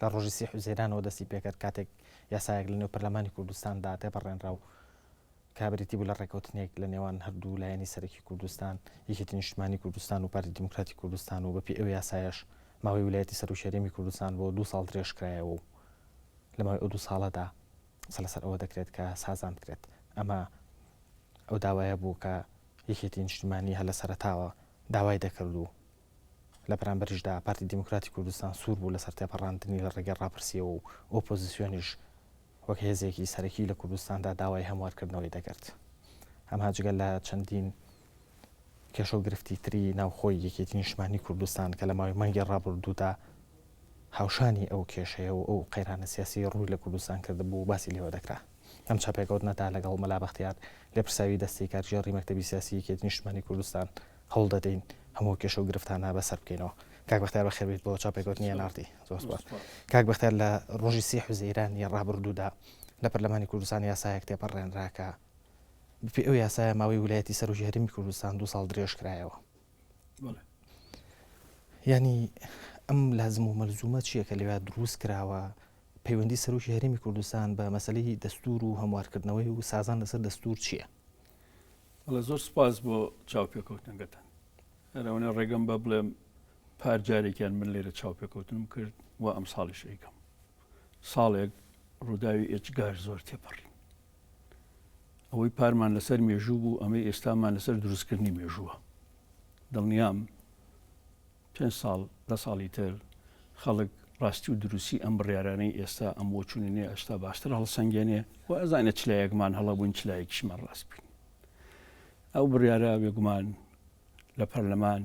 لە ڕۆژی سی حوزەیرانەوە دەستی پێکرد کاتێک یاسایەک لەنێو پەرلەمانی کوردستاندا تێپەڕێنرا و کە بریتی بوو لە ڕێکەوتنێک لە نێوان هەردوو لایەنی سەرەکی کوردستان، یەکێتی نیشتمانی کوردستان و پارتی دیموکراتی کوردستان و بەپێی ئەو یاسایەش ماوەی ویلایەتی سەرۆکی هەرێمی کوردستان بۆ دوو ساڵ درێژکرایەوە و لە ماوەی ئەو دوو ساڵەدا قسە لەسەر ئەوە دەکرێت کە سازان بکرێت. ئەمە ئەو داوایە بوو کە یەکێتی نیشتمانی هەر لە سەرەتاوە داوای دەکرد و لە بەرامبەریشدا پارتی دیموکراتی کوردستان سوور بوو لەسەر تێپەڕاندنی لە ڕێگەی ڕاپرسیەوە و ئۆپۆزیسیۆنیش وەک هێزێکی سەرەکی لە کوردستاندا داوای هەموارکردنەوەی دەکرد ئەمها جگە لە چەندین کێشە و گرفتی تری ناوخۆی یەکێتی نیشمانی کوردستان کە لە ماوەی مانگی ڕابردوودا هاوشانی ئەو کێشەیە و ئەو قەیرانە سیاسی ڕووی لە کوردستان کردبوو باسی لێوە دەکرا ئەم چاپێکەوتنەدا لەگەڵ مەلا بەختیار لێپرساوی دەستەی کارگێڕی مەکتەبی سیاسی یەکێتی نیشتمانی کوردستان هەوڵ دەدەین هەموو کێشە و گرفتانە بەسەر بکەینەوە. کاک بەختیار بەخێربێیت بۆ چاپێکەوتنی ئێن ئاڕ تی. زۆر سوپاس. کاک بەختیار لە ڕۆژی سی حوزەیران ی ڕابڕدوودا لە پەرلەمانی کوردستان یاسایەک تێپەڕێنرا کە بەپێی ئەو یاسایە ماوەی ولایەتی سەرۆکی هەرێمی کوردستان دوو ساڵ درێژکرایەوە. یانی ئەم لازم و مەلزومە چییە کە لەوێ دروست کراوە پەیوەندی سەرۆکی هەرمی کوردستان بە مەسلەی دەستور و هەموارکردنەوەی و سازان لەسەر دەستور چییە؟ بەڵە زۆر سپاس بۆ چاوپێکەوتنەکەتان ئەرەوەنە ڕێگەم بە بڵێم پار جارێکیان من لێرە چاوپێکەوتنم کرد و ئەم ساڵیش ئەیکەم ساڵێک ڕووداوی ئێجگار زۆر تێپەڕین ئەوەی پارمان لەسەر مێژوو بوو ئەمەی ئێستامان لەسەر دروستکردنی مێژووە دڵنیام پێ ساڵ دە ساڵی تر خەڵک ڕاستی و دروستی ئەم بڕارانەی ئێستا ئەم بۆ چونێ ئەشتا باشتر هەڵسەنگێنێ و ئەزانە چلایەکمان هەڵەبوون چلایەکیشمان ڕاست بین ئەو بڕارە بێگومان لە پەرلەمان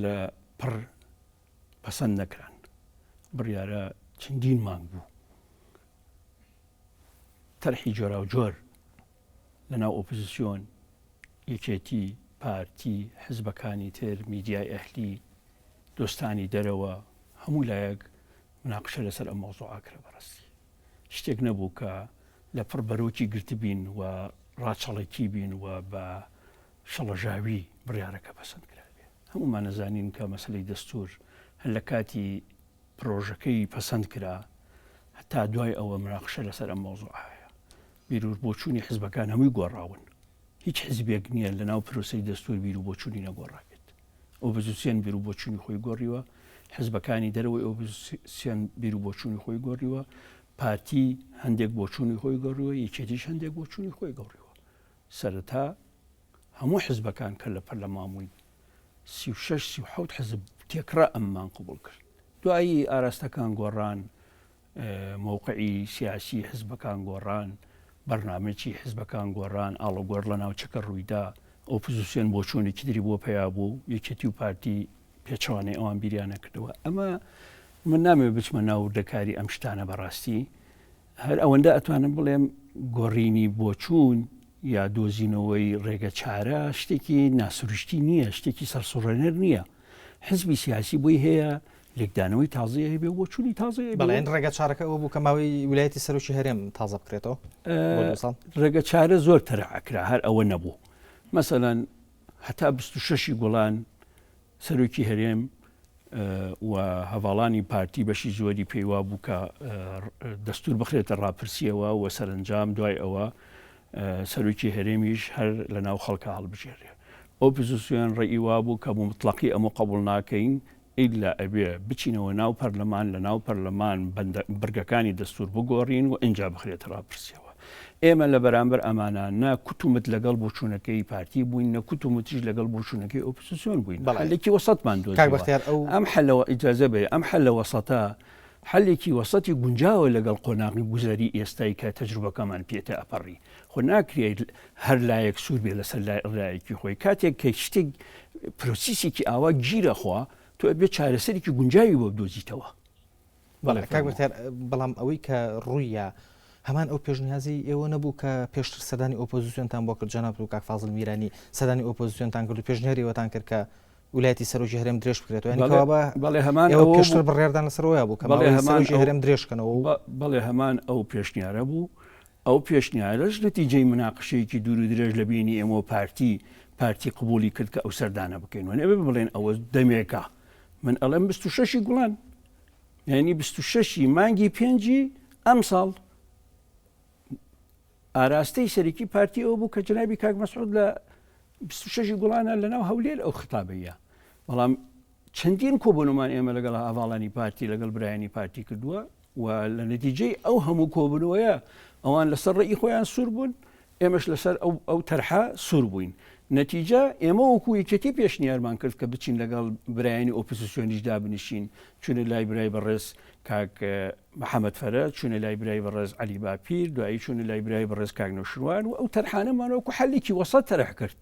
لە پڕ پەسەند نەکران بڕارە چەندین مانگ بوو تەرحی جۆراوجۆر لە ناو ئۆپزسیۆن، یەکێتی، پارتی، حزبەکانی تر، میدیای ئەهلی، دۆستانی دەرەوە، هەموو لایەک مناقشە لەسەر ئەم مەوزوعە کرا بەڕاستی شتێک نەبوو کە لە پڕ بەرۆکی گرتبین و ڕاچەڵەکی بین و بە شەڵەژاوی بڕیارەکە پەسەند کرابێ هەموومان نەزانین کە مەسلەی دەستور هەر لە کاتی پرۆژەکەی پەسەند کرا هەتا دوای ئەوە مناقشە لەسەر ئەم مەوزوع هەیە بیرور بۆچوونی حزبەکان هەمووی گۆڕاون هیچ حزبێک نییە لە ناو پرۆسی دەستور بیر و بۆچوونی نەگۆڕابێت ئۆپزیسیۆن بیر و بۆچوونی خۆی گۆڕیوە حزبەکانی دەرەوەی ئۆپزیسیۆن بیر و بۆچوونی خۆی گۆڕیوە پارتی هەندێک بۆچوونی خۆی گۆڕیوە یەکێتیش هەندێک بۆچوونی خۆی گۆڕیوە سەرەتا هەموو حزبەکان کە لە پەرلەمان بووین سی و شەش سی و حەوت حزب تێکڕا ئەممان قبوڵ کرد دوایی ئاراستەکان گۆڕان موقعی سیاسی حزبەکان گۆڕان بەرنمەی حزبەکان گۆڕان ئاڵۆگۆر لە ناوچەکە ڕوویدا ئۆپزیسیۆن بۆ چۆنێکی دری بۆ پیا بوو یەکێتی و پارتی پێچوانەی ئەوان بیریانە کردەوە ئەمە من نامێ بچمە ناو دەکاری ئەم شتانە بەڕاستی هەر ئەوەندە ئەتوانم بڵێم گۆڕینی بۆچوون یا دۆزینەوەی ڕێگە چارە شتێکی ناسروشتی نییە شتێکی سەرسوڕێنەر نییە حزبی سیاسی بۆی هەیە لێکدانەوەی تازەیە هەبێ بۆ چووی تازە بەڵێن ڕێگە چارەکە ئەو بوو کە ماوەی ویلایەتی سەرۆکی هەرێم تازە بکرێتەوە ڕێگە چارە زۆر تەرەعکرا هەر ئەوە نەبوو مەسەەن هەتا 26 گوڵان سەرۆکی هەرێم و هەڤاڵانی پارتی بەشی زۆری پێی وابوو کە دەستور بخرێتە ڕاپرسیەوە و سەرنجام دوای ئەوە سەرۆکی هەرێمیش هەر لە ناو خەڵکە هەڵبژێرێ ئۆپزیسیۆن ڕێی وابوو کە بوو مطلقی ئەمە قبول ناکەین ئیلا ئەبێ بچینەوە ناو پەرلەمان لە ناو پەرلەمان بەرگەکانی دەستور بگۆڕین و ئینجا بخرێتە ڕاپرسیەوە ئێمە لە بەرامبەر ئەمانە نە کوت و مت لەگەڵ بۆچوونەکەی پارتی بووین نە کوت و متیش لەگەڵ بۆچوونەکەی ئۆپسسیۆن بووین بەڵێکی وەسەتمان دو ئەم حلەوە ئیجازە بێ ئەم حل لە وەسەتە حلێکی وەسەتی گونجاوە لەگەڵ قۆناغی گوزەری ئێستای کە تەجروبەکەمان پێێتە ئەپەڕی خۆ ناکرێت هەر لایەک سوور بێ لەسەر لای ئەلایەکی خۆی کاتێک کە شتێک پرۆسیسێکی ئاوا گیرەخوا تۆ بێ چارەسەرێکی گونجاوی بۆ دۆزیتەوە بەڵێ کاک بەختیار بەڵام ئەوەی کە ڕوویە هەمان ئەو پێشنیازی ئێوە نەبوو کە پێشتر سەدانی ئۆپۆزیسیۆنتان بۆ کرد جەنابەت و کاک فازل میرانی سەدانی ئۆپۆزیسیۆنتان کرد و پێشنیاری ئەوەتان کرد کە ولایەتی سەرۆکی هەرێم درێژ بکرێتەوە یعنی کەوا بە بەڵێ هەمان ئەوە پێشتر پێشتر بڕێردان لەسەرەوەی بوو کە بەڵێ بەڵێ هەمان سەرۆکی ئەو- هەرێم درێژکەنەوە و بە- بەڵێ هەمان ئەو پێشنیارە بوو ئەو پێشنیارەش نەتیجەی مناقشەیەکی دوور و درێژ لە بینی ئێمە و پارتی پارتی قبولی کرد کە ئەو سەردانە بکەین و نەبێ بڵێن ئەوە دەمێکە من ئەڵێم 26 گوڵان یعنی بیست و شەش ی مانگی پێنجی ئەمساڵ ئاراستەی سەرکی پارتی ئەو بوو کە جنابی کاک مەسعود لە 26 گوڵانە لەناو هەولێر ئەو خطابەیە بەڵام چەندین کۆبنمان ئێمە لەگەڵ ئاڤاڵانی پارتی لەگەڵ برایانی پارتی کردووە و لە نەتیجەی ئەو هەموو کۆبنەوەیە ئەوان لەسەر ڕێی خۆیان سوور بوون ئێمەش لەسەر ئەو ئەو تەرحە سوور بووین. نەتیجە، ئێمە وەکوو یەکێتی پێشنیارمان کرد کە بچین لەگەڵ برایانی ئۆپۆزیسیۆنیش دابنیشین، چووینە لای برای بەڕێز کاک محەمەد فەرە، چووینە لای برای بەڕێز عەلی باپیر، دوایی چووینە لای برای بەڕێز کاک نەوشیروان و ئەو تەرحانەمان وەکوو حەلێکی وەسەت تەرح کرد.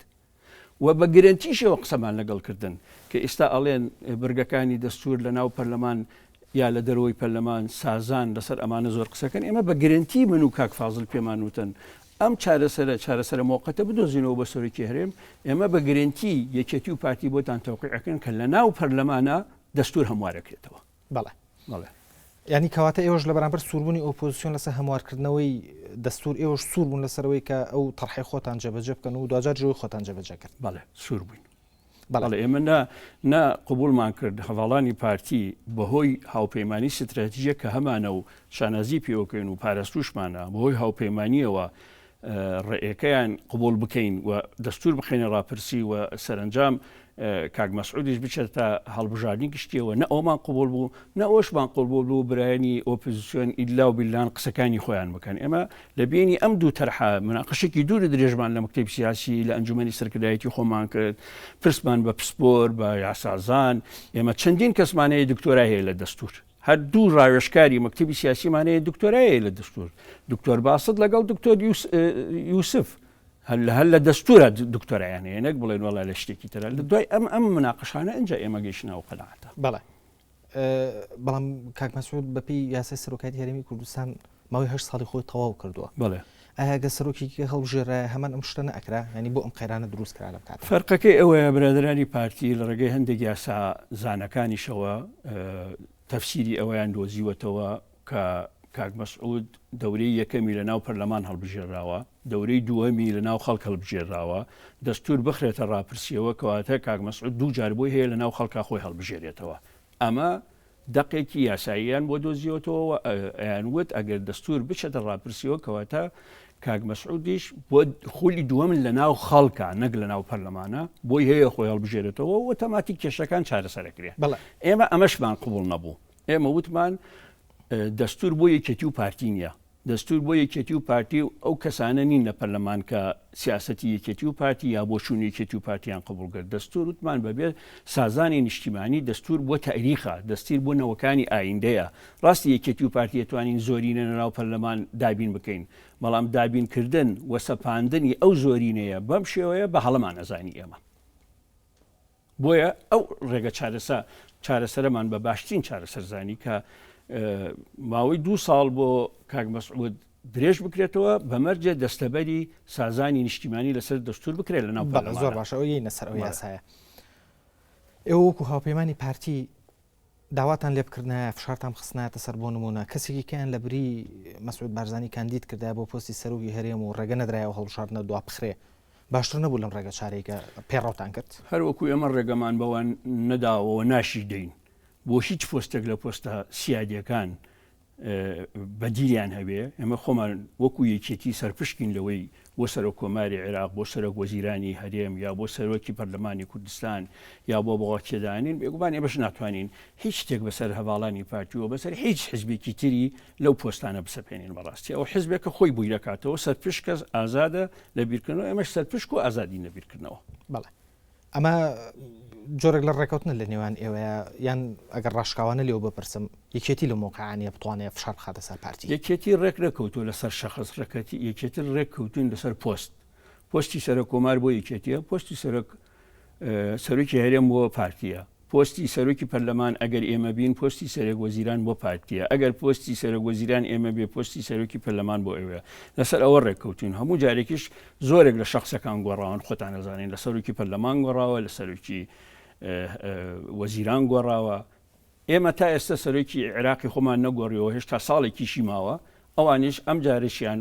و بە گرەنتیشەوە قسەمان لەگەڵ کردن کە ئیستا ئەڵێن بڕگەکانی دەستور لە ناو پەرلەمان یا لە دەرەوەی پەرلەمان سازان لەسەر ئەمانە زۆر قسەکەن ئێمە بە گرەنتی من و کاک فازل پێمان وتن ئەم چارەسەرە چارەسەرە مۆقەتە بدۆزینەوە بە سەرۆکی هەرێم ئێمە بە گرنتی یەکێتی و پارتی بۆتان تەوقیعەکەن کە لە ناو پەرلەمانە دەستور هەموارەکرێتەوە بەڵێ بەڵێ. یانی کەواتە ئێوەش لە بەرامبەر سووربوونی ئۆپۆزیسیۆن لەسەر هەموارکردنەوەی دەستور ئێوەش سوور بوون لەسەرەوەی کە ئەو تەرحی خۆتان جێبەجێ بکەن و دواجار جوی خۆتان جێبەجێ کرد بەڵێ سوور بووین بەڵێ ئێمە نا نا قوبولمان کرد هەواڵانی پارتی بەهۆی هاوپەیمانانی ستراتیژە کە هەمانە و شانازی پێوەکەین و پاراستوشمانە بەهۆی هاوپەیمانانیەوە ڕێکەیان قبوڵ بکەین و دەستور بخەینە ڕاپرسی و سەرەنجام کاک مەسعودیش بچێتە هەڵبژاردنی گشتیەوە نە ئەومان قبول بوو نە ئەوشمان قبول بوو برایانی ئۆپزیسیۆن ئیلا و بیلان قسەکانی خۆیان بکەن ئێمە لە بینی ئەم دوو تەرحە مناقشێکی دوور درێژمان لە مکتب سیاسی لە ئەنجومی سەرکردایەتی خۆمان کرد پرسمان بە پسپۆر بە یاسازان ئێمە چەندین کەسمانەیە دکتۆرا هەیە لە دەستور هەر دوو ڕاوێژکاری مەکتبی سیاسیمان هەیە دکتۆرایە لە دەستور دکتۆر باست لەگەڵ دکتۆر یوسف هەر لە هەر لە دەستورە دکتۆرایان هەیە نەک بڵێن وڵا لە شتێکی ترە لە دوای ئەم ئەم مناقشانە ئەجا ئێمە گەیشتنەوە قەنەعاتە بەڵێ بەڵام کاک مەسعود بەپی یاسای سەرۆکاتی هەرمی کوردستان ماوەی هەشت ساڵی خۆی تەواو کردووە بەڵێ. ئایا گەر سەرۆکێکی هەڵبژێررایە هەمان ئەم شتە نەئەکرا؟ یانی بۆ ئەم قەیرانە دروست کرا لەم کاتە؟ فەرقەکەی ئەوەیە برادەرانی پارتی لە ڕێگەی هەندێک یاسا زانەکانیشەوە تەفسیری ئەوەیان دۆزیوەتەوە کە کاک مەسعود دەورەی یەکەمی لە ناو پەرلەمان هەڵبژێرراوە، دەورەی دووەمی لە ناو خەڵک هەڵبژێرراوە، دەستوور بخرێتە ڕاپرسیەوە کەواتە کاک مەسعود دوو جار بۆی هەیە لە ناو خەڵکا خۆی هەڵبژێرێتەوە. ئەمە دەقێکی یاساییان بۆ دۆزیوەتەوە و ئەیان وت ئەگەر دەستور بچێتە ڕاپرسیەوە کەواتە کاک مەسعودیش بۆ خولی دووەمن لە ناو خەڵکە نەک لە ناو پەرلەمانە بۆی هەیە خۆی هەڵبژێرێتەوە و تەماتی کێشەکان چارەسەرەکرێ ئێمە ئەمەشمان قوبڵ نەبوو ئێمە وتمان دەستور بۆ یەکێتی و پارتی نیە دەستور بۆ یەکێتی و پارتی و ئەو کەسانە نین لە پەرلەمان کە سیاسەتی یەکێتی و پارتی یا بۆچونی یەکێتی و پارتیان قبوڵ کرد دەستور وتمان بەبێ سازانی نیشتیمانی دەستور بۆ تاریخە دەستیر بۆ نەوەکانی ئایندەیە ڕاستی یەکێتی و پارتی ئەتوانین زۆرینە لەناو پەرلەمان دابین بکەین بەڵام دابین کردن وە سەپاندنی ئەو زۆرینەیە بەم شێوەیە بە هەڵەمان ئەزانی ئێمە بۆیە ئەو ڕێگە چارەسە چارەسەرەمان بە باشترین چارەسەر زانی کە ماوەی دو ساڵ بۆ کاک مەسعود درێژ بکرێتەوە بەمەرجێ دەستەبەری سازانی نیشتیمانی لەسەر دەستور بکرێت لە ناو زۆر باشەوەی نەسەر ئەو یاسایە ئێوەکو هاوپەیمانانی پارتی داواتان لێ بکردنایە فشارتان بخستنایەتە سەر بۆ نموونە کەسێکی کەیان لە بری مەسعود بارزانی کاندید کردای بۆ پۆستی سەرۆکی هەرێم و ڕێگە نەدرای ئەو هەڵبژاردنە دوا بخرێ باشتر نەبوو لەم ڕێگە چارێکە پێڕەوتان کرد هەروەکو ئێمە ڕێگەمان بەوان نەداوەوە ناشی دەین بۆ هیچ پۆستێک لە پۆستە سیادیەکان بەدیلیان هەبێ ئێمە خۆمان وەکو یەکێتی سەرپشکین لەوەی بۆ سەرۆک کۆماری عێراق بۆ سەرۆک وەزیرانی هەرێم یا بۆ سەرۆکی پەرلەمانی کوردستان یا بۆ بەڵاکێدانین بێگومان ئێمەش ناتوانین هیچ شتێک بەسەر هەواڵانی پارتیوە بەسەر هیچ حزبێکی تری لەو پۆستانە بسەپێنین بەڕاستی ئەو حزبێکە خۆی بووی دەکاتەوە سەرپشکەس ئازادە لە بیرکردنەوە ئێمەش سەرپشک و ئازادی نەبیرکردنەوە بەڵێ ئەمە جۆرێک لە ڕێکەوتنە لە نێوان ئێوەیە یان ئەگەر ڕاشکاوانە لێو بپرسم یەکێتی لە مۆقعانە بتوانێت فشار بخاتە سەر پارتی یەکێتی ڕێک نەکەوتو لەسەر شەخص ڕێکەتی یەکێتر ڕێککەوتون لەسەر پۆست پۆستی سەرە کۆمار بۆ یەکێتیە پۆستی سەرک سەرۆکی هەرێم بۆ پارتیە پۆستی سەرۆکی پەرلەمان ئەگەر ئێمە بین پۆستی سەرێک وەزیران بۆ پارتیە ئەگەر پۆستی سەرۆک وەزیران ئێمە بێ پۆستی سەرۆکی پەرلەمان بۆ ئێوەیە لەسەر ئەوە ڕێککەوتون هەموو جارێکیش زۆرێک لە شخصەکان گۆڕاون خۆتان نەزانین لە سەرۆکی پەرلەمان گۆڕاوە لە سەرۆکی وەزیران گۆڕاوە ئێمە تا ئێستا سەرۆکی عێراقی خۆمان نەگۆڕیەوە هێشتا ساڵێکیشی ماوە ئەوانیش ئەم جارشیان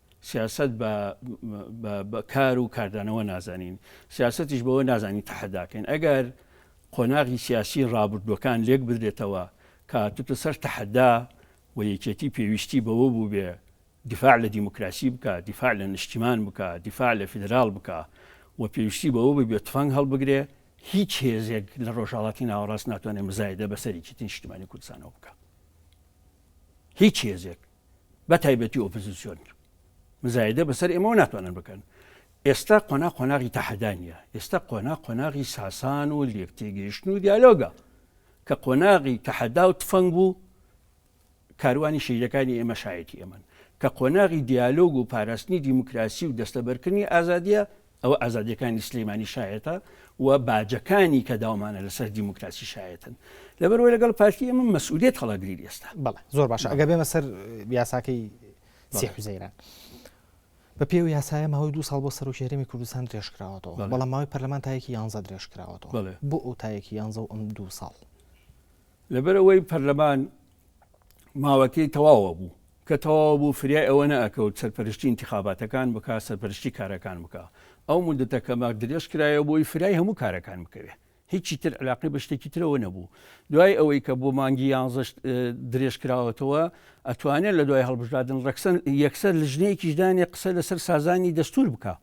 سیاسەت بە بە کار و کاردانەوە نازانین سیاسەتیش بەوە نازانین تەحەداکەین ئەگەر قۆناغی سیاسی ڕابردووەکان لێک بدرێتەوە کاتوتە سەر تەحەدا و یەکێتی پێویستی بەوە بوو بێ دفاع لە دیموکراسی بکە دفاع لە نیشتیمان بکە دفاع لە فیدرال بکە و پێویستی بەوە ببێت تفەنگ هەڵبگرێ هیچ هێزێک لە ڕۆژهڵاتی ناوەڕاست ناتوانێت مزایدە بەسەرێکی نیشتمانی کوردستانەوە بکە هیچ هێزێک بەتایبەتی ئۆپزیسیۆن مزایدە بەسەر ئێمەەوە ناتوانن بکەن ئێستا قۆنا قۆناغی تەحەدانە ئێستا قۆنا قۆناغی ساسان و لێکتێگەیشتن و دیالۆگە کە قۆناغی تەحەدا و تفەنگ بوو کاروانی شیرەکانی ئێمە شایەتی ئەمەن کە قۆناغی دیالۆگ و پاراستنی دیموکراسی و دەستەبەرکردنی ئازادیە ئەوە ئازادیەکانی سلیمانی شایەتە و باجەکانی کە داومانە لەسەر دیموکراسی شایەتن لەبەرەوەی لەگەڵ پارتی ئەمە مەسئولیت هەڵەگریر ئێستا بەڵێ زۆر باشە ئەگە بێمە سەر یاساکەی سی حوزەیران بە پێو یاسایە ماوەی دو ساڵ بۆ سەرۆکێرەمی کوردستان درێژکراوەەوە بەڵام ماوەی پەرلەمانتایەکی یانزە درێژکراوەەوە بۆ ئەو تایەکی یانزە و ئەم دو ساڵ لەبەرەوەی پەرلەمان ماوەکەی تەواوە بوو کە تەواو بوو فریای ئەوە نەئەکەوت سەرپەرشتی ئینتیخاباتەکان بکا سەرپەرشتی کارەکان بکا ئەو موددەتە کە مە درێژ کرایەوە بۆی فرای هەموو کارەکان بکەوێ هیچی تر علاقەی بە شتێکی ترەوە نەبوو دوای ئەوەی کە بۆ مانگی یانزەش درێژ کراوەتەوە ئەتوانێت لە دوای هەڵبژادن ڕەکسەن یەکسەر لژنەیەکیش دانێ قسە لەسەر سازانی دەستور بکە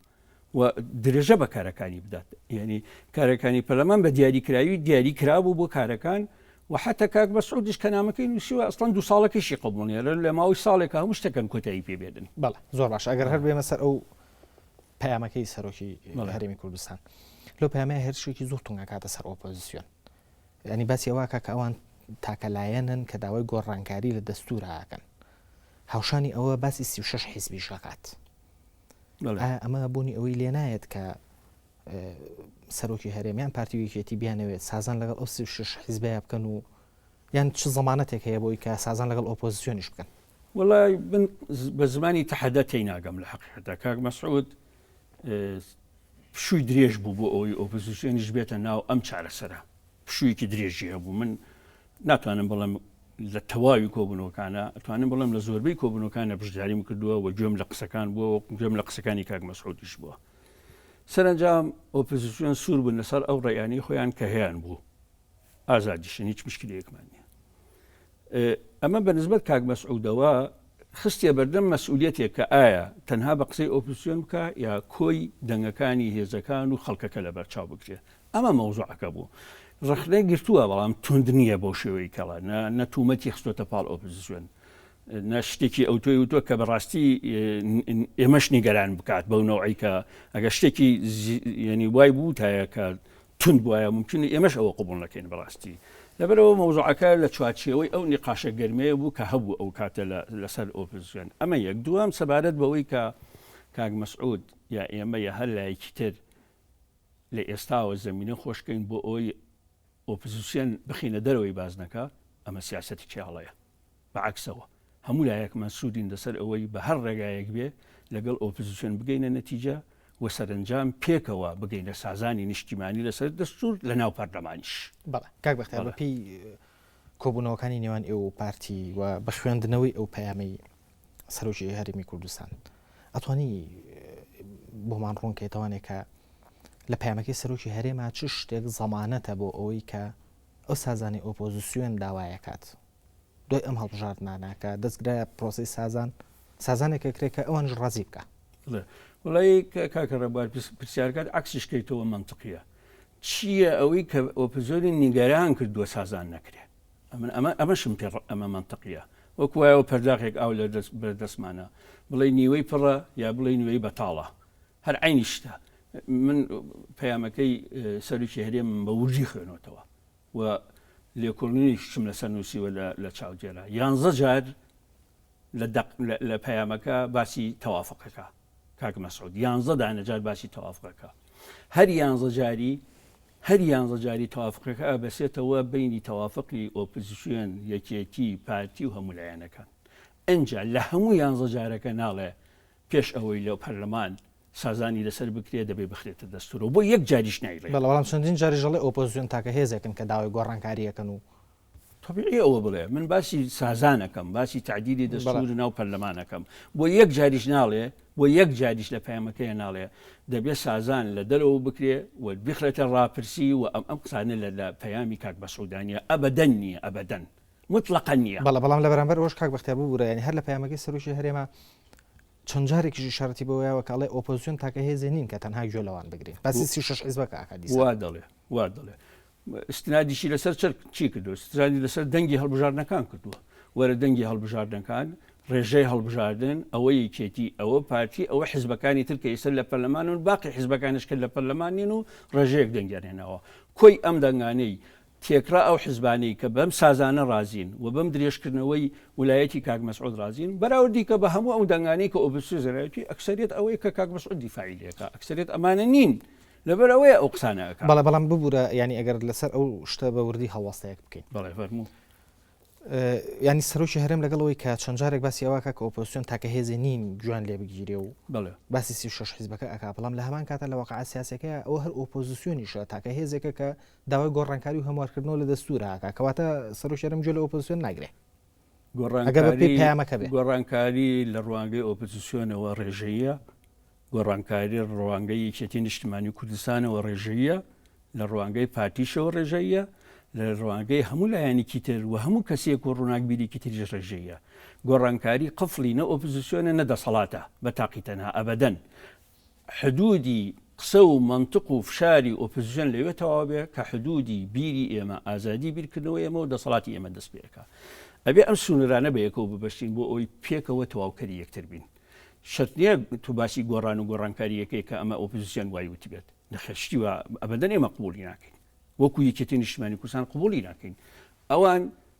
و درێژە بە کارەکانی بدات یعنی کارەکانی پەرلەمان بە دیاریکراوی دیاری کرابوو بۆ کارەکان و حتا کاک بە سعودیش کە نامەکەی نووسیوە ئەستان دو ساڵەکەشی قبولێرن لە ماوەی ساڵێک هەموو شتەکەن کۆتایی پێ بێدن بەڵ زۆر باش ئەگەر هەر بێمە سەر ئەو پەیامەکەی سەرۆکی هەرێمی کوردستان لۆ پامە هەرشێکی زۆر تونگەکاتە سەر ئۆپۆزیسیۆن ینی باسی ئەوواکە کە ئەوان تاکەلایەنن کە داوای گۆڕانکاری لە دەستوراکەن هاوشانی ئەوە باسی سی6 حیزبیش دەکات ئایا ئەمە بوونی ئەوەی لێ نایەت کە سەرۆکی هەرێمیان پارتی وکێتی بیانەوێت سازان لەگەڵ ئەو شش حیزبەیە بکەن و یان چ زمانەتێک هەیە بۆی کە سازان لەگەڵ ئۆپۆزیسیۆنیش بکەن وڵی من بە زمانی تەحەدە تی ناگەم لە حقیقەتە کاک مەسعود شووی درێژ بوو بۆ ئەوەی ئۆپۆزیسیۆنیش بێتە ناو ئەم چارەسەرە پشوویەکی درێژی هەبوو من ناتوانم بڵێم لە تەواوی کۆبوونەوەکانە ئەتوانم بڵێم لە زۆربەی کۆبوونەکانە بشداریم کردووە و گوێم لە قسەکان بووە و گوێم لە قسەکانی کاک مەسعودیش بووە سەرنجام ئۆپزیسیۆن سوور بوون لەسەر ئەو ڕێیانی خۆیان کە هەیان بوو ئازادیشن هیچ مشکلەیەکمان نیە ئەمە بە نسبت کاک مەسعودەوە خستە بەردەم مەسئولەتێک کە ئایا تەنها بە قسەی ئۆپسیۆن بکە یا کۆی دەنگەکانی هێزەکان و خەڵکەکە لە بەرچاو بکرێت ئەمە مەوزوعەکە بوو. ڕەخنەی گرتووە، بەڵام توند نییە بەو شێوەی کەڵە، نە نە توومەتی خستۆتە پاڵ ئۆپزسیۆن، نە شتێکی ئەوتۆی وتووە کە بەڕاستی ئێمەش نیگەران بکات بەو نەوعەی کە ئەگەر شتێکی یەنی وای بووتایە کە تون بواە ممکنی ئێمەش ئەوە قوبڵ نەکەین بەڕاستی لەبەرەوە مەوزوعەکە لە چوارچێوەی ئەو نقاشە گەرمەیە بوو کە هەبوو ئەو کاتە لەسەر ئۆپزیۆن ئەمە یەک دوام سەبارەت بەوەی کە کاک مەسعود یا ئێمە یا هەر لایەکی تر لە ئێستاوە زەمینە خۆشکەین بۆ ئەوەی ئۆپزسیۆن بخینە دەرەوەی بازنەکە ئەمە سیاستی کێڵەیە بەعکسەوە هەموو لایەکمان سوودین لەسەر ئەوەی بە هەر ڕێگایەک بێ لەگەڵ ئۆپزیسیۆن بگەینە نەتیجە و سەرنجام پێکەوە بگەینە سازانی نیشتیمانی لەسەر دەستور لە ناو پەرلەمانیش کاک بەختیار بەپی کۆبوونەوەکانی نێوان ئێوە و پارتی و بە خوێندنەوەی ئەو پەیامەی سەرۆکی هەرێمی کوردستان ئەتوانی بۆمان ڕوونکەیتەوانێک کە لە پامەکەی سەرۆکی هەرێما چ شتێک زەمانەتە بۆ ئەوەی کە ئەو سازانی ئۆپۆزیسیۆن داوایەکات دوای ئەم هەڵبژاردنانەکە دەستگرە پرۆسی سازان سازانێکە کرێکە ئەوانش ڕازی بکە وڵی کاکە ڕێبوار پرسیارکات عکسیشکەیتەوە منطقیە چییە ئەوەی کە ئۆپزۆری نیگەران کردووە سازان نەکرێت ئەمن ئەمە ئەمەشم پێ ڕ ئەمە مەنتقیە. وەک وایەوە پەرداخێک ئاو لە دەست بەر دەستمانە. بڵێی نیوەی پڕە یا بڵێی نیوەی بەتاڵە. هەر عەینی شتە. من پەیامەکەی سەرۆکی هەرێمم بە وردی خوێنۆتەوە و لێکۆڵینێکیشم لەسەر نووسیوە لە لە چاودێرە. یانزە جار لە دەق لە لە پەیامەکە باسی تەوافقەکە. کاک مەسعود یانزە دانە جار باسی تەوافقەکە هەر یانزە جاری هەر یانزە جاری تەوافقەکە ئەبەسێتەوە بینی تەوافقی ئۆپزیسیۆن یەکێتی پارتی و هەموو لایەنەکان ئەجا لە هەموو یانزە جارەکە ناڵێ پێش ئەوەی لە پەرلەمان سازانی لەسەر بکرێت دەبێ بخرێتە دەستورەوە بۆ یەک جاریش نایڵێ بەڵام چەندین جاریش ئەڵێ ئۆپۆزیسیۆن تاکە هێزێکن کە داوای گۆڕانکاریەکەن و تەبیعیە ئەوە بڵێ من باسی سازان ئەکەم باسی تعدیلی دەستور ناو پەرلەمانەکەم بۆ یەک جاریش ناڵێ بۆ یەک جاریش لە پەیامەکەی ناڵێ دەبێت سازان لە دەرەوە بکرێ و بخرێتە ڕاپرسی و ئەم ئەم قسانە لە لە پەیامی کاک بەسعودانە ئەبدەن نییە ئەبدەن مطلقا نییە بەڵە بەڵام لە بەرامبەر ئەوش کاک بەختیار ببوورە ینی هەر لە پەیامەکەی سەرۆکی هەرێمە چەند جارێکیش شارەتی بەوەیەوە کاڵێ ئۆپۆزیۆن تاکە هێزێ نین کە تەنها گوێ لەوان بگرین باسی سی شش حیزبەکە ئاکادی وا دەڵێ وا دەڵێ ئیستنادیشی لەسەر چەر چی کردو سترانی لەسەر دەنگی هەڵبژاردنەکان کردووە وەرە دەنگی هەڵبژاردنەکان ڕێژەی هەڵبژاردن ئەوە یەکێتی ئەوە پارتی ئەوە حزبەکانی ترکە ئیسەر لە پەرلەمان و باقی حزبەکانش کرد لە پەرلەمانین و ڕێژەیەک دەنگیانێنەوە کۆی ئەم دەنگانەی تێکرا ئەو حزبانەی کە بەم سازانە رازین و بەم درێژکردنەوەی ولایەتی کاک مەسعود رازین بەراورد دیکە بە هەموو ئەو دەنگانەی کە ئۆبسیۆزرایەتی ئەکسریت ئەوەی کە کاک مەسعود دیفاعیلەکە ئەکسریت ئەمانە نین. لەبەر ئەوەیە ئەو قسانە ئەکا. بەڵێ بەڵام ببورە یانی ئەگەر لەسەر ئەو شتە بە وردی هەڵوەستەیەک بکەین. بەڵێ فەرموو. ینی سەرۆکی هەرێم لەگەڵەوەی کە چەند جارێک باسی ئەوواکە کە ئۆپۆسیۆن تاکە هێزی نین جوان لێ بگیرێ و باسی سی شش حیزبەکە ئەک بەڵام لە هەمان کاتە لە وەقع سیاسەکە ئەو هەر ئۆپۆزیسیۆنیشە تاکە هێزێکە کە داوای گۆڕانکاری و هەموارکردنەوە لە دەستورە کەواتە سەرۆشێرم جوێ لە ئۆپۆسیۆن ناگرێ گۆڕانکاری لە ڕوانگەی ئۆپۆزیسیۆنەوە ڕێژەیە گۆڕانکاری ڕوانگەی یەکێتی نیشتمانی کوردستانەوە ڕێژەیە لە ڕوانگەی پارتیشەوە ڕێژەیە لە ڕوانگەی هەموو لایەنێکی تر و هەموو کەسێک و ڕووناکبیریکی تریژ ڕێژەیە گۆڕانکاری قفلی نە ئۆپزیسیۆنە نە دەسەڵاتە بە تاقی تەنها ئەبدەن حدوودی قسە و مەنتق و فشاری ئۆپزسیۆن لەوێ تەواو بێ کە حدوودی بیری ئێمە، ئازادی بیرکردنەوەی ئێمە و دەسەڵاتی ئێمە دەست پێ ئەکا. ئەبێ ئەم سنوورانە بە یەکەوە ببەستین بۆ ئەوەی پێکەوە تەواوکەری یەکتر بین. شەرت نییە تۆ باسی گۆڕان و گۆڕانکاری ئەکەی کە ئەمە ئۆپزسیۆن وای وتبێت. نەخێر شتی وا ئەبەدەن ئێمە قبووڵی ناکەین. وەکوو یەکێتی نیشتمانی کوردستان قبووڵی ناکەین. ئەوان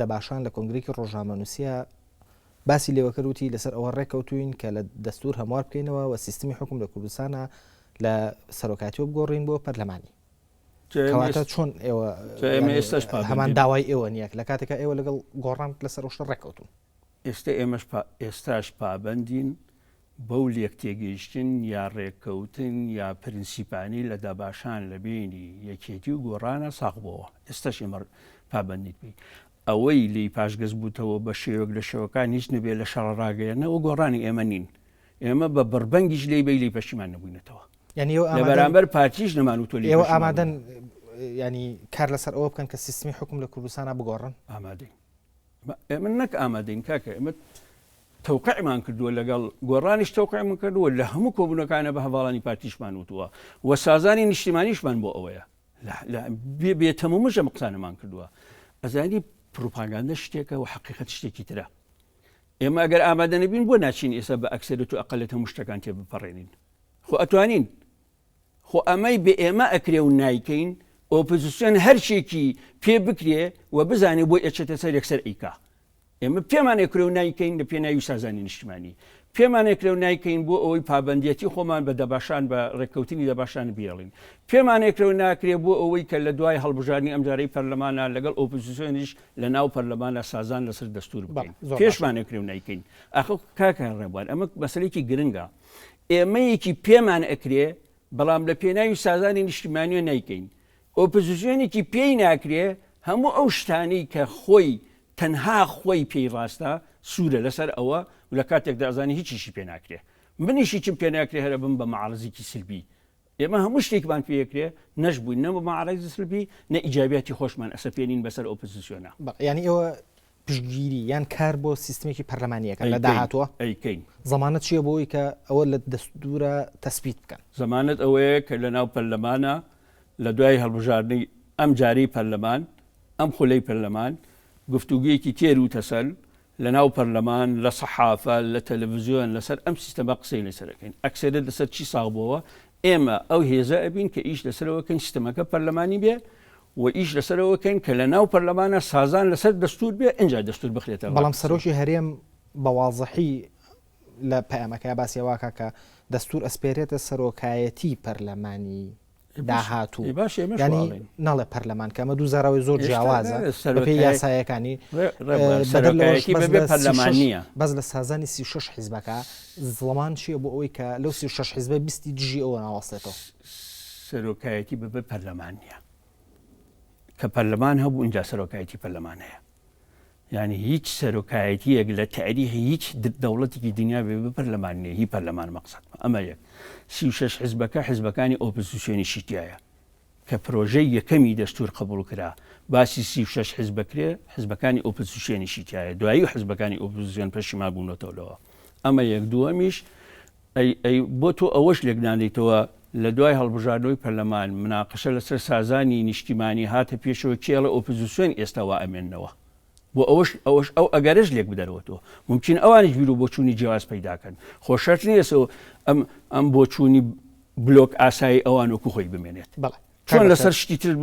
دەباشان لە کۆنگرەیەکی ڕۆژنامەنووسییە باسی لێوەکەر وتی لەسەر ئەوە ڕێککەوتوین کە لە دەستور هەموار بکەینەوە و سیستمی حکوم لە کوردستانە لە سەرۆکاتی و بگۆڕین بۆ پەرلەمانی کەواتە چۆن ئێوە هەمان داوای ئێوە نیەک لە کاتێکە ئێوە لەگەڵ گۆڕان لەسەر ڕشتە ڕێککەوتون ئێستا ئێمەش ئێستاش پابندین بەو لێکتێگەیشتن یا ڕێککەوتن یا پرنسیپانەی لە دەباشان لە بەینی یەکێتی و گۆڕانا ساغ بۆوە، ئێستەش ئێمە پابەندیت بین. ئەوەی لێی پاشگەز بووتەوە بە شێوەک لە شێوەکان هیچ نەبێ لە شەڕە ڕاگەیەنەوە گۆڕانی ئێمە نین. ئێمە بە بڕبەنگیش لێی بەی لێی پەشیمان نەبووینەتەوە. یانی ئێوە ئامادەن. لە بەرامبەر پارتیش نەمان و تۆ لێی پەشیمان ئێوە ئامادەن یانی کار لەسەر ئەوە بکەن کە سیستمی حکوم لە کوردستانا بگۆڕن؟ ئامادەین. ئێمە نەک ئامادەین کاکە ئێمە تەوقعمان کردووە لەگەڵ گۆڕانیش تەوقعمون کردووە لە هەموو کۆبوونەکانە بە هەواڵانی پارتیشمان وتووە و سازانی نیشتیمانیشمان بۆ ئەوەیە بێتەمە مژە مقسانەمان کردووە ئەزانی پروپاگاندە شتێکە و حقیقت شتێکی ترە ئێمە ئەگەر ئامادەنەبین بۆ ناچین ئێستا بە ئەکسێت و ئەقلێت هەموو شتەکان تێ بپەڕێنین خۆ ئەتوانین خۆ ئەمەی بە ئێمە ئەکرێ و نایکەین، ئۆپزسیۆن هەر چیەکی پێ بکرێ و بزانێ بۆی ئەچێتە سەر یەکسەر ئەیکا. ئێمە پێمان ئەکرێ و نایکەین لە پێناوی سازانی نیشتمانی. پێمان ئەکرێ و نایکەین بۆ ئەوەی پابەندیەتی خۆمان بە دەباشان بە ڕێککەوتنی دەباشان بهێڵین. پێمان ئەکرێ و ناکرێ بۆ ئەوەی کە لە دوای هەڵبژاردنی ئەمجارەی پەرلەمانا لەگەڵ ئۆپزسیۆنیش لە ناو پەرلەمانا سازان لەسەر دەستور بکەین. پێشمان ئەکرێ و نایکەین. ئاخۆ کاکە ڕێبوار ئەمە مەسەلەیەکی گرنگە. ئێمە یەکی پێمان ئەکرێ بەڵام لە پێناوی سازانی نیشتیمانیە نایکەین ئۆپزسیۆنێکی پێی ناکرێ هەموو ئەو شتانەی کە خۆی تەنها خۆی پێی ڕاستە سوورە لەسەر ئەوە و لە کاتێکدا ئەزانێ هیچیشی پێ ناکرێ منیشی چم پێ ناکرێ هەرە بم بە مەعارزیکی سلبی ئێمە هەموو شتێکمان پێکرێ نەشبووین نە بە مەعارەزی سلبی نە ئیجابیاتی خۆشمان ئەسەپێنین بەسەر ئۆپۆزیسیۆنە. بەڵێ یانی ئێوە پشتگیری یان کار بۆ سیستمێکی پەرلەمانییەکە لە داهاتووە ئەیکەین. ضمانەت چییە بۆ ئەوەی کە ئەوە لە دەستوورا تەسبیت بکەن؟ ضمانەت ئەوەیە کە لەناو پەرلەمانا لە دوای هەڵبژاردنی ئەمجارەی پەرلەمان، ئەم خولەی پەرلەمان گفتوگۆیەکی تێر و تەسەل لە ناو پەرلەمان، لە سەحافە، لە تەلەفزیۆن لەسەر ئەم سیستەمە قسەی لەسەر ئەکەین. ئەکسەرێت لەسەر چی ساغ بۆوە؟ ئێمە ئەو هێزە ئەبین کە ئیش لەسەرەوە کەین سیستەمەکە پەرلەمانی بێ و ئیش لەسەرەوە کەین کە لە ناو پەرلەمانە سازان لەسەر دەستوور بێ ئینجا دەستوور بخرێتە ڕێ. بەڵام سەرۆکی هەرێم بە وازحی لە پەیامەکەیا باسی ئەوە ئەکا کە دەستوور ئەسپێرێتە سەرۆکایەتیی پەرلەمانی. داهاتوو ینی ناڵێ پەرلەمان کەمە دوو زاراوی زۆر جیاوازە سەرپی یاسایەکانی پەرلەمانە بەس لە سازانی سی شش حیزبەکە زڵمان چیە بۆ ئەوەی کە لەو سی شش حیزبە بیستی دژی ئەوە ناوەستێتەوە سەرۆکایەتی بەبێ پەرلەمانە کە پەرلەمان هەبوو اینجا سەرۆکایەتی پەرلەمانەیە یانی هیچ سەرۆکایەتیەک لە تاریخی هیچ دەوڵەتێکی دنیا بێ بپەرلەمان نیە هی پەرلەمان مەقسەد ئەمە یەک سی و شش حزبەکە حزبەکانی ئۆپزیسیۆنی شیتایە کە پرۆژەی یەکەمی دەستور قبول کرا باسی سی و شش حزب بکرێ حزبەکانی ئۆپزیسیۆنی شیتایە دوایی و حزبەکانی ئۆپزیسیۆن پەشیما بوونەتەوە لەوە ئەمە یەک دووەمیش ئەی ئەی بۆ تۆ ئەوەش لێک نادەیتەوە لە دوای هەڵبژاردنەوەی پەرلەمان مناقەشە لەسەر سازانی نیشتیمانی هاتە پێشەوە کێ ئەڵێ ئۆپزسیۆن ئێستا وا ئەمێننەوە بۆ ئەوەش ئەوەش ئەو ئەگەرەش لێک بدەرەوە تۆ ممکن ئەوانیش بیرو بۆچوونی جیاواز پەیداکەن خۆ شەرت نیە سەو ئەم ئەم بۆچوونی بلۆک ئاسایی ئەوان وەکو خۆی بمێنێت بەڵێ چۆن لەسەر شتی تر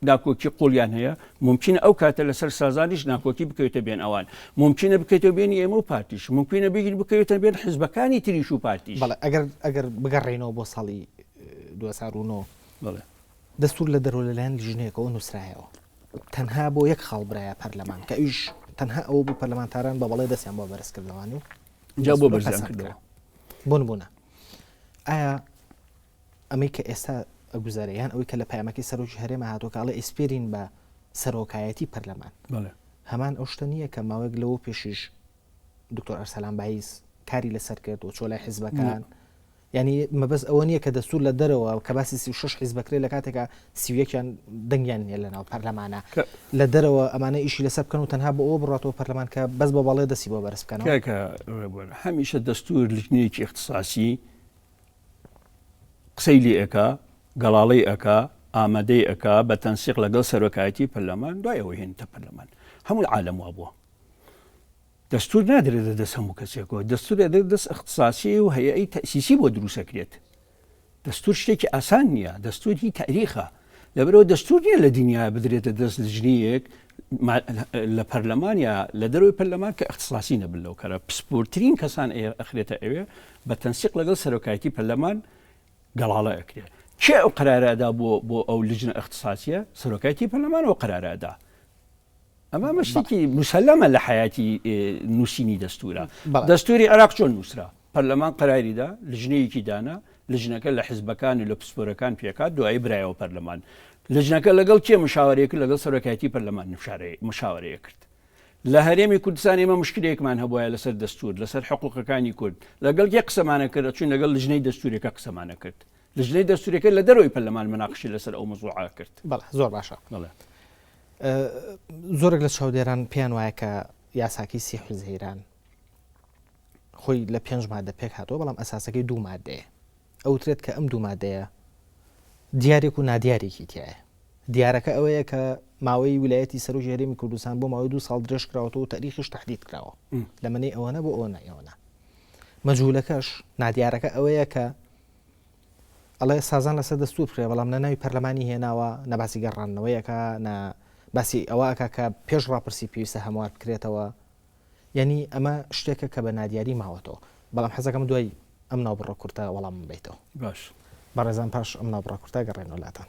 ناکۆکی قوڵیان هەیە، مومکینە ئەو کاتە لەسەر سازانیش ناکۆکی بکەوێتە بێن ئەوان، مومکینە بکەوێتە بێنی ئێمە و پارتیش، مومکینە بیر بکەوێتە بێن حزبەکانی تریش و پارتیش. بەڵێ ئەگەر ئەگەر بگەڕێینەوە بۆ ساڵی دوو هەزار و نۆ بەڵێ دەستور لە دەرەوە لەلایەن لیژنەیەکەوە نووسرایەوە تەنها بۆ یەک خاڵ برایە پەرلەمان کە ئەویش تەنها ئەوە بوو پەرلەمانتاران بە بەڵێ دەستیان بۆ بەرز کردەوانی و جا بۆ بەرزیان کردەوە بۆ نبوونە ئایا ئەمەی کە ئێستا ئەگوزارێ یان ئەوەی کە لە پەیامەکەی سەرۆکی هەرێمە هاتووە کە ئەڵێ ئەیسپێرین بە سەرۆکایەتی پەرلەمان، هەمان ئەو شتە نییە کە ماوەیەک لەوە پێشیش دکتۆر ئەرسەلان بایز کاری لەسەر کرد و چۆ لای حیزبەکان؟ یعنی مەبەست ئەوە نییە کە دەستور لە دەرەوە کە باسی سی شش حیز بکرێ لە کاتێکا سیویەکیان دەنگیان نیە لەناو پەرلەمانە لە دەرەوە ئەمانە ئیشی لەسەر بکەن و تەنها بۆ ئەوە بڕاتەوە پەرلەمان کە بەس بە بەڵێ دەسی بۆ بەرز بکەن هەمیشە دەستور لکنێکی اختصاسی قسەی لێ ئەکا، گەڵاڵەی ئەکا، ئامادەی ئەکا بە تەنسیق لەگەڵ سەرۆکایەتی پەرلەمان، دوای ئەوەی هێنیتە پەرلەمان. هەمووی عالەم وا بووە. دەستوور نادرێتە دەست هەموو کەسێکەوە، دەستوور دەدرێتە دەست ئیختساسی و هەیئەی تەئسیسی بۆ دروست ئەکرێت. دەستوور شتێکی ئاسان نییە، دەستوور هی تاریخە. لەبەرئەوە دەستور نییە لە دنیا بدرێتە دەست لجنەیەک لە پەرلەمان یا لە دەروی پەرلەمان کە اختصاسی نەبن لەو کەرە پسپورترین کەسان ئەخرێتە ئەوێ بە تەنسیق لەگەڵ سەرۆکایەتی پەرلەمان گەڵاڵە ئەکرێت کێ ئەو قرارەدا بۆ بۆ ئەو لجنە اختصاسیە سەرۆکایەتی پەرلەمانەوە قرارەدا ئەمە ئەمە شتێکی مسلەمە لە حیاتی نووسینی دەستورە دەستوری عراق چۆن نووسرا پەرلەمان قراریدا لژنەیەکی دانا لژنەکە لە حزبەکان و لە پسپۆرەکان پێکات دوای برایەوە پەرلەمان لژنەکە لەگەڵ کێ مشاوەرێک لەگەڵ سەرۆکایەتی پەرلەمان نشارەیە مشاوەرەیە کرد لە هەرێمی کوردستان ئێمە مشکلێکمان هەبواە لەسەر دەستور لەسەر حقوقەکانی کورد لەگەڵ یە قسەمانە کرد چون لەگەڵ لژنەی دەستورەکە قسەمانە کرد لجنەی دەستوریەکە لە دەرەوەی پەرلەمان مناقشی لەسەر ئەو مەزوعە کرد بەڵێ زۆر باشە بەڵێ زۆرێک لە چاودێران پێیان وایە کە یاساکی سی حیزەیران خۆی لە پێنج مادە پێک هاتەوە بەڵام ئەساسەکەی دوو مادەیە ئەوترێت کە ئەم دوو مادەیە دیارێک و نادیارێکی تایە دیارەکە ئەوەیە کە ماوەی ویلایەتی سەر و ژێرێمی کوردستان بۆ ماوەی دو ساڵ درێژ کراوەەوە و تاریخیش تهدید کراوە لەمەنی ئەوەنە بۆ ئەوە نایەوەە مەجوولەکەش نادیارەکە ئەوەیە کە ئەڵێ سازان لەسەر دەستور بکرێت، بەڵام نە ناوی پەرلەمانی هێناوە، نە باسی گەڕاندنەوەی ئەکا، نە باسی ئەوە ئەکا کە پێش ڕاپرسی پێویستە هەموار بکرێتەوە. یانی ئەمە شتێکە کە بە نادیاری ماوەتەوە. بەڵام حەز ئەکەم دوای ئەم ناوبڕە کورتە وەڵامم بەیتەوە. باش. بەڕێزان پاش ئەم ناوبڕە کورتە ئەگەڕێینەوە لاتان.